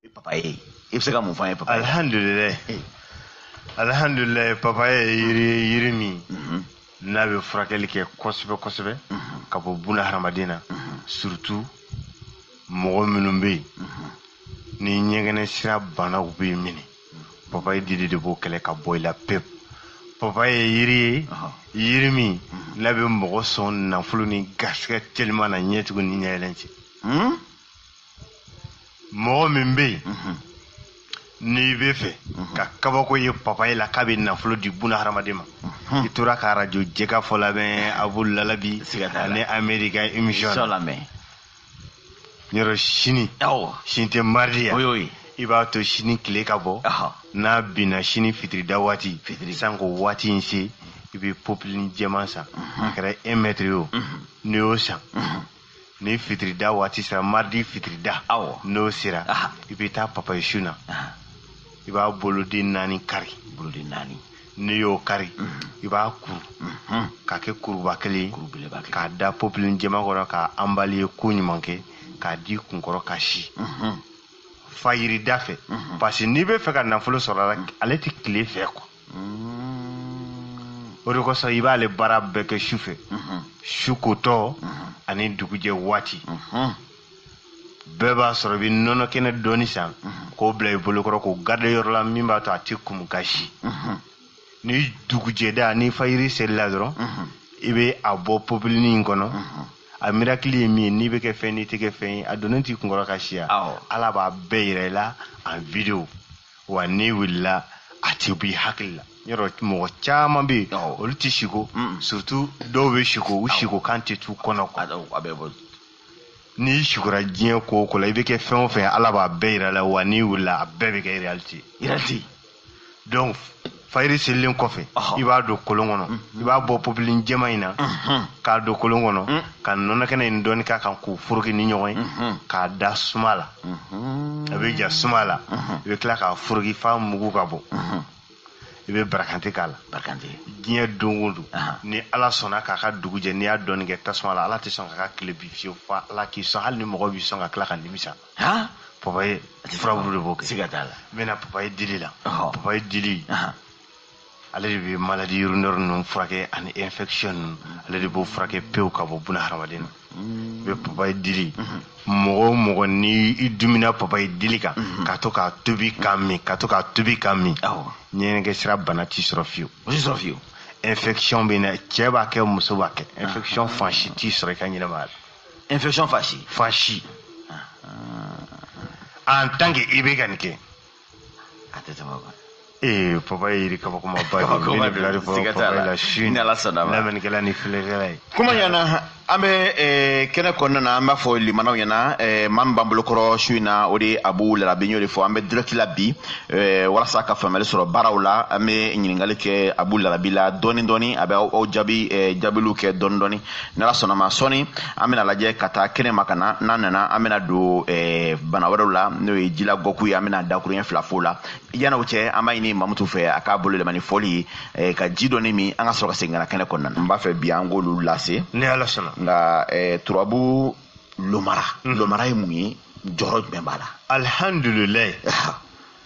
E papaye i bɛ se ka mun fɔ an ye papaye alihamdulilayi eh. alihamdulilayi papaye yiri ye yiri min mhm. n'a bɛ furakɛli kɛ kosɛbɛ kosɛbɛ mhm. ka bɔ buna hadamaden na mhm. surtout mɔgɔ minnu bɛ yen ni ɲɛgɛnɛ sira banaw b'u minɛ papaye dili de b'o kɛlɛ ka bɔ i la pewu papaye yiri ye yiri min n'a bɛ mɔgɔ sɔn nafolo ni garisɛgɛ teliman na ɲɛ tugun ni ɲɛyɛlɛn cɛ hmm? mɔgɔ min bɛ yen mhm. n'i b'a fɛ mhm. ka kabako ye papaye la k'a bɛ nafolo di buna hadamaden ma mhm. i tora ka arajo jɛkafɔ lamɛn abu lalabi ani amerika émission lamɛn yɔrɔ sini sini tɛ maridi ye wa i b'a to sini tile ka bɔ n'a binna sini fitirida waati sanko waati in se i bɛ popilini jɛman san a kɛra un mɛtiri ye o n'i y'o san ni fitirida waati sera maridi fitirida awɔ n'o sera i bɛ taa papaye sun na i b'a boloden naani kari boloden naani n'i y'o kari mhm. i b'a kuru mhm. k'a kɛ kuruba kelen k'a da popilini jɛman kɔnɔ k'a emballer ko ɲuman kɛ k'a d'i kunkɔrɔ ka si mhm. fajirida fɛ parce que n'i b'a fɛ ka nafolo sɔrɔ a la ale tɛ tile fɛ quoi o de kosɔn i b'ale baara bɛɛ kɛ su fɛ su kotɔ ani dugujɛ waati bɛɛ b'a sɔrɔ i bɛ nɔnɔ kɛnɛ dɔɔni san k'o bila i bolokɔrɔ k'o garder yɔrɔ la min b'a to a tɛ kumu ka si ni dugujɛda ni fajiri selila dɔrɔn i bɛ a bɔ popilini in kɔnɔ a mirakili ye min ye n'i bɛ kɛ fɛn n'i tɛ kɛ fɛn ye a donnen t'i kunkɔrɔ ka siya ala b'a bɛɛ yira i la en vidéo wa n'i wulila a tɛ b'i hakili la yɔrɔ mɔgɔ caman bɛ yen olu tɛ siko surtout dɔw bɛ siko u siko kan tɛ t'u kɔnɔ a bɛ bɔ n'i sikora diɲɛ ko o ko la i bɛ kɛ fɛn o fɛn ala b'a bɛɛ yira i la wa n'i wulila a bɛɛ bɛ kɛ réalité réalité donc fayiri selilen kɔfɛ i b'a don kolon kɔnɔ mm-hmm. i b'a bɔ popilini jɛman in na mm-hmm. k'a don kolon kɔnɔ mm. ka nɔnɔkɛnɛ in dɔɔni k'a kan k'u foroki ni ɲɔgɔn ye mm-hmm. k'a da suma la a bɛ ja suma la i bɛ tila k'a foroki f'a mugu ka bɔ i bɛ barakante k'a la diɲɛ don o don ni ala sɔnna k'a ka dugu jɛ n'i y'a dɔɔni kɛ tasuma la ala tɛ sɔn k'a ka tile bin fiyewu fo ala k'i sɔn hali ni mɔgɔ b'i sɔn ka tila ka nimisa han papaye furabulu de b'o kɛ siga t'a la n bɛna papaye dili la Ɔhɔ. papaye dili Ahan. ale de bɛ maladie urinaire ninnu furakɛ ani infection ninnu ale de b'o furakɛ pewu ka bɔ buna hadamaden na i bɛ papaye dili mɔgɔ o mɔgɔ ni i timinna papaye dili kan ka to k'a tobi k'a min ka to k'a tobi k'a min Awɔ. ɲɛgɛnɛ sira bana t'i sɔrɔ fiyewu o tɛ sɔrɔ fiyewu infection bana cɛ b'a kɛ muso b'a kɛ infection fan si t'i sɔrɔ i ka ɲɛnamaya la infection fasi fasi en tant que i bɛ ka nin kɛ a tɛ tɛmɛ o kan ee papa ye yiri kabakoma ba de ye ne bila de fɔ papa la su ni ala sɔnna ma lamɛnnikɛla ni filɛkɛla ye kuma ɲɛna an bɛ kɛnɛ kɔnɔna na an b'a fɔ limanaw ɲɛna maa min b'an bolokɔrɔ su in na o de ye abu lalabi y'o de fɔ an bɛ direct la bi walasa ka faamuyali sɔrɔ baaraw la an bɛ ɲininkali kɛ abu lalabi la dɔɔni dɔɔni a bɛ aw jaabi jaabiliw kɛ dɔɔni dɔɔni ni ala sɔnna ma sɔni an bɛna lajɛ ka taa kɛnɛ ma ka na n'an nana an bɛna don eh, bana wɛrɛw la n'o ye jila gɔku ye an bɛna dakuruɲɛ fila fɔ la yan'o cɛ an b'a ɲini mamutu fɛ a k'a bolo yɛlɛma ni fɔli ye eh, ka ji dɔɔni min an ka sɔrɔ ka segin ka na kɛnɛ kɔnɔna na n b'a fɛ bi an k'olu lase ni ala sɔnna nka eh, turabu lomara mhm. lomara ye mun ye jɔyɔrɔ jumɛn b'a la alihamdulilayi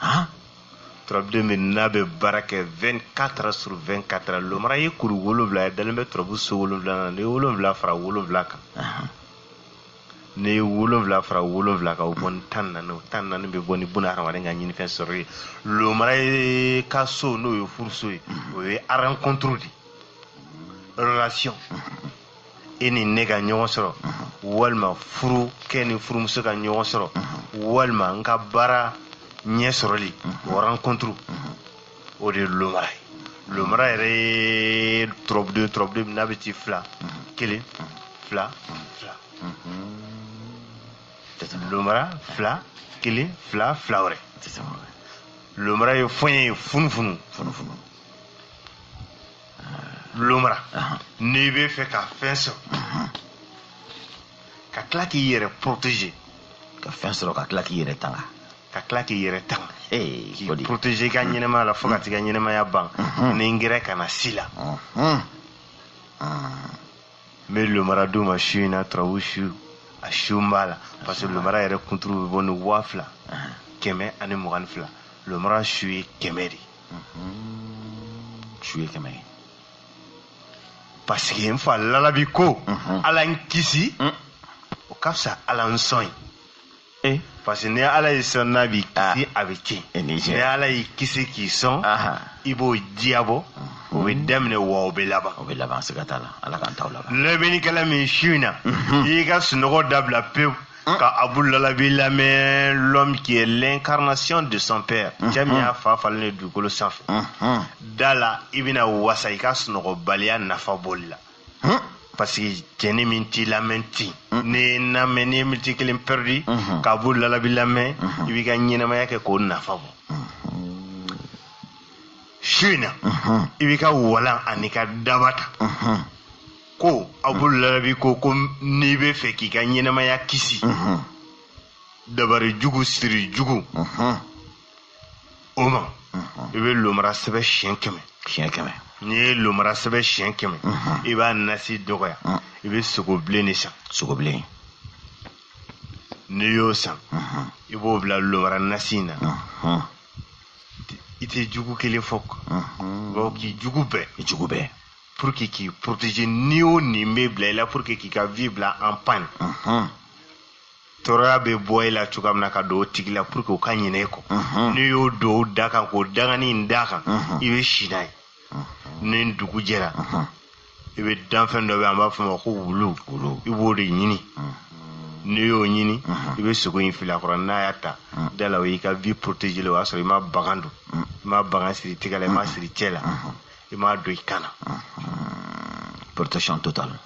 han turabuden min n'a bɛ baara kɛ 24 sur 24 lomara ye kuru wolonwula ye dalen bɛ turabu so wolonwula na n'i ye wolonwula fara wolonwula kan n'i ye wolonwula fara wolonwula kan o bɔ ni tan naani o tan naani bɛ bɔ ni buna hadamaden ka ɲinifɛn sɔrɔ ye lomara ye ka so n'o ye furuso ye o ye rencontre de relation e ni ne ka ɲɔgɔn sɔrɔ walima furukɛ ni furumuso ka ɲɔgɔn sɔrɔ walima n ka baara ɲɛ sɔrɔli o rencontre o de ye lomara ye lomara yɛrɛ ye turabuden turabuden min n'a bɛ ci fila kelen fila fila lomara fila kelen fila fila wɛrɛ lomara ye fɔɲɛ ye funufunu funufunu lomara n'i b'a fɛ ka fɛn sɔrɔ ka tila k'i yɛrɛ protéger ka fɛn sɔrɔ ka tila k'i yɛrɛ tanga ka tila k'i yɛrɛ tanga k'i protéger i ka mm. ɲɛnɛmaya la fo ka mm. t'i ka ɲɛnɛmaya ban mm-hmm. ni n gɛrɛ kana s'i la mm-hmm. mm. n bɛ lomara d'u ma su in na turabu su a su n b'a la parce que lomara yɛrɛ kunturu bɛ bɔ ni waa fila uh-huh. kɛmɛ ani mugan ni fila lomara su ye kɛmɛ de su ye kɛmɛ ye parce que n fa lalabi ko ala n kisi o ka fisa ala n sɔn ye eh. parce que ni ala y'i sɔn n'a m'i ah. kisi a bɛ tiɲɛ eh, ni ala y'i kisi k'i sɔn i b'o diyabɔ o bɛ daminɛ wa o bɛ laban o bɛ laban siga t'a la ala k'an taw laban lamɛnnikɛla min su in na i y'i ka sunɔgɔ dabila pewu ka abu lalabi lamɛn l'homme qui est l'incarnation de son père cɛ min y'a fa falen de dugukolo sanfɛ da la i bɛna wasa i ka sunɔgɔbaliya nafa bɔli la parce que cɛni min t'i lamɛn ten n'i ye lamɛn n'i ye miniti kelen perdu ka abu lalabi lamɛn i b'i ka ɲɛnamaya kɛ k'o nafa bɔ su in na i b'i ka walan an'i ka daba ta ko abu larabi ko ko n'i bɛ fɛ k'i ka ɲɛnɛmaya kisi dabari jugu siri jugu o ma i bɛ lomara sɛbɛ siyɛn kɛmɛ siyɛn kɛmɛ n'i ye lomara sɛbɛ siyɛn kɛmɛ i b'a nasi dɔgɔya i bɛ sogo bilen de san sogo bilen n'i y'o san i b'o bila lomara nasi in na i tɛ jugu kelen fɔ b'a fɔ k'i jugu bɛɛ i jugu bɛɛ pour que k'i protéger ni o ni bɛ bila i la pour que k'i ka vie bila en panne tɔɔrɔya bɛ bɔ i la cogoya min na ka don o tigi la pour que o ka ɲinɛ e kɔ n'i y'o don o da kan k'o dangani in d'a kan i bɛ si n'a ye ni dugu jɛra i bɛ danfɛn dɔ bɛ an b'a fɔ o ma ko wulu i b'o de ɲini n'i y'o ɲini i bɛ sogo in fili a kɔrɔ n'a y'a ta da la o y'i ka vie protéger o y'a sɔrɔ i ma bagan don i ma bagan siri tɛgɛ la i ma siri cɛ la i m'a don i kan na protection totale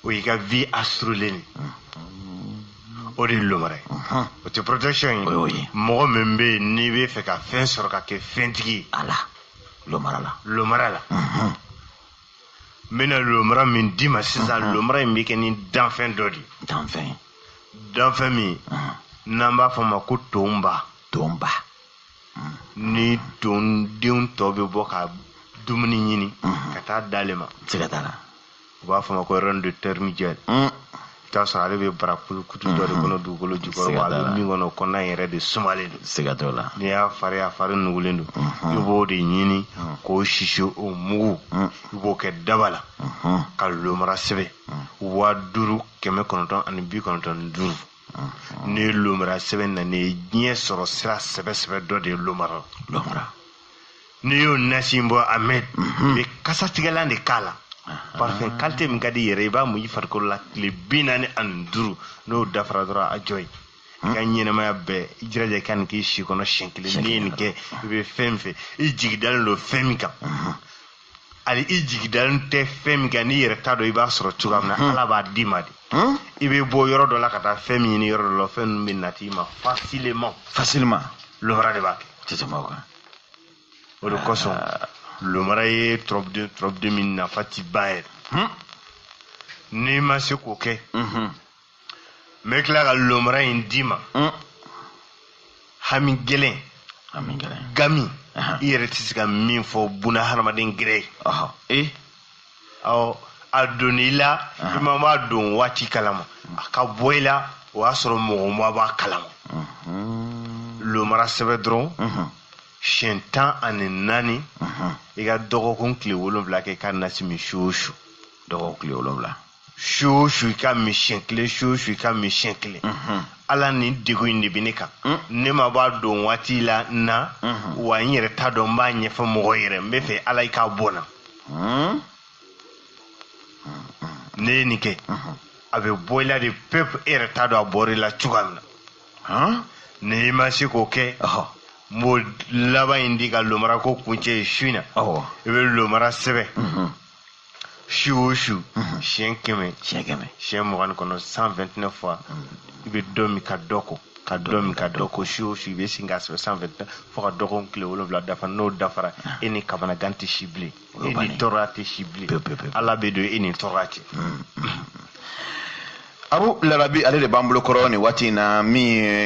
o y'i ka vie assurélen o de ye lomara ye o tɛ protection ye o ye mɔgɔ min bɛ yen n'i bɛ fɛ ka fɛn sɔrɔ ka kɛ fɛntigi ye ala lomara la lomara la n bɛna lomara min d'i ma sisan lomara in bɛ kɛ ni danfɛn dɔ de ye danfɛn danfɛn min n'an b'a fɔ a ma ko tonba tonba ni tondenw tɔ bɛ bɔ ka dumuni ɲini ka taa d'ale ma siga t'a la u b'a fɔ ma ko reine de termitière i t'a sɔrɔ ale bɛ bara kulukutu dɔ de kɔnɔ dugukolo jukɔrɔ a bɛ min kɔnɔ kɔnɔna yɛrɛ de sumalen don siga t'o la n'i y'a fara a fari nugulen don i b'o de ɲini k'o sisi o mugu i b'o kɛ daba la ka lomara sɛbɛn waa duuru kɛmɛ kɔnɔntɔn ani bi kɔnɔntɔn ni duuru n'i ye lomara sɛbɛn na nin ye diɲɛ sɔrɔ sira sɛbɛsɛbɛ dɔ de ye lomara la n'i y'o nasi bɔ amɛd mhm. i bɛ kasatigɛlan de k'a la parfum qualité min ka di yɛrɛ i b'a mu i farikolo la tile bi naani ani duuru n'o dafara dɔrɔn a jɔ ye i ka ɲɛnamaya bɛɛ i jiraja ka nin k'i si kɔnɔ siɲɛ kelen n'i ye nin kɛ i bɛ fɛn min fɛ i jigi dalen don fɛn min kan hali i jigi dalen tɛ fɛn min kan n'i yɛrɛ t'a dɔn i b'a sɔrɔ cogoya min na hmm. ala b'a d'i ma de hmm? i bɛ bɔ yɔrɔ dɔ la ka taa fɛn min ɲini yɔrɔ dɔ la fɛn ninnu bɛ nati i ma facilement facilement lomara de b'a kɛ tɛ tɛmɛ o kan o de kosɔn ah. lomara ye tɔrɔbuden tɔrɔbuden min nafa ti ban yɛrɛ hmm? n'i ma se k'o kɛ n bɛ tila ka lomara in d'i ma mm. hami gɛlɛn gami i yɛrɛ tɛ se ka min fɔ buna hadamaden gɛrɛ ye eh? ɔ a donna i la i ma b'a don waati kalama a ka bɔ i la o y'a sɔrɔ mɔgɔ ma b'a kalama mm-hmm. lomara sɛbɛn dɔrɔn mm-hmm. siɲɛ tan ani naani mm-hmm. i ka dɔgɔkun tile wolonwula kɛ ka nasi min su o su dɔgɔkun tile wolonwula su o su i k'a min siɲɛ kelen su o su i k'a min siɲɛ kelen ala nin degun in de bɛ ne kan mm. ne ma bɔ a don waati la na mm-hmm. wa n yɛrɛ t'a dɔn n b'a ɲɛfɔ mɔgɔ yɛrɛ n b'a fɛ ala i k'a bɔ n na mm. n'e ye nin kɛ mm-hmm. a bɛ bɔ i la de pewu e yɛrɛ t'a dɔn a bɔra i la cogoya min na ni i ma se k'o kɛ n b'o laban in di ka lomara ko kuncɛ ye su in na i bɛ lomara sɛbɛn mm-hmm. su o su siɲɛ kɛmɛ siɲɛ mugan ni kɔnɔntɔn cent vingt-neuf fois i bɛ dɔ min ka dɔ ko ka dɔ min ka dɔ ko su o su i bɛ sin k'a sɛbɛn cent vingt-neuf fo ka dɔgɔkun tile wolonwula dafa n'o dafara e ni kamanagan tɛ si bilen e ni tɔɔrɔya tɛ si bilen ala bɛ don e ni tɔɔrɔya cɛ. abu larabi ale de b'an bolo kɔrɔ nin waati in na min